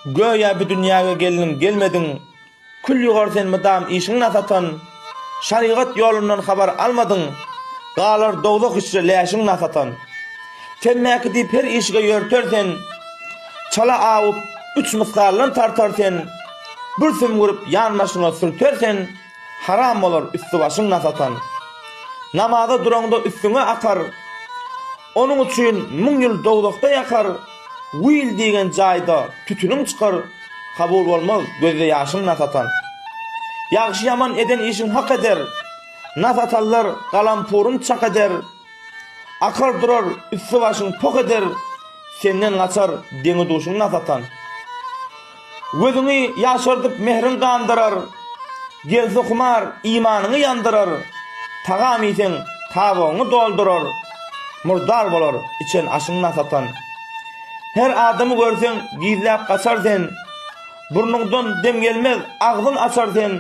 Göýä bu dünýäge gelniň gelmediň Kül ýugar sen mydam işiň nasatan Şarygat ýolundan habar almadyň Galar dowzah içre läşiň nasatan Temmäki diýip her işige ýörter sen Çala awup üç mysgaldan tartar sen Bir sümgürip ýan başyňa sürter sen Haram bolar üsti başyň nasatan Namaza duraňda üstüňe akar Onuň üçin müň ýyl dowzahda ýakar, Will diýgen jaýda tütüniň çykar, Kabul bolmaz gözde ýaşyň nas atan. Ýagşy-ýaman eden işiň hak eder, Nas atanlar galampuryn çak eder, Akar durar üsti-başyň poh eder, Senden gaçar deňi-duşuň nas atan. Gözüňi ýaşardyp mähriň gandyrar, Gelse humar imanyňy ýandyrar, Tagam iýseň tabyňy doldurar, Murdar bolar içen aşyň nasatan. Her adamy görseň gizläp gaçar sen, Burnuňdan dem gelmez agzyň açar sen.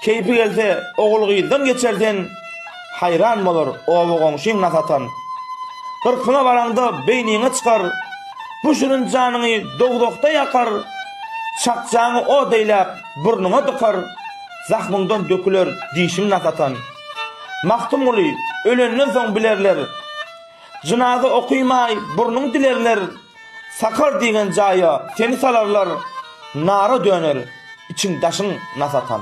Keýpi gelse, ogul-gyzdan geçer sen, Haýran bolar oba-goňşyň na satan. Gyrkyna baraňda beýniňe çykar, Bu şirin janyňy dowzahda ýakar. Çakjaňy ot eýläp, burnuňa dykar, Zahmyňdan döküler dişiň na satan. Magtymguly ölenden soň bilerler, Jynaza okymaý burnuň dilerler. Sakar diýen jaýa seni salarlar nara döner içiň daşyň nas atan.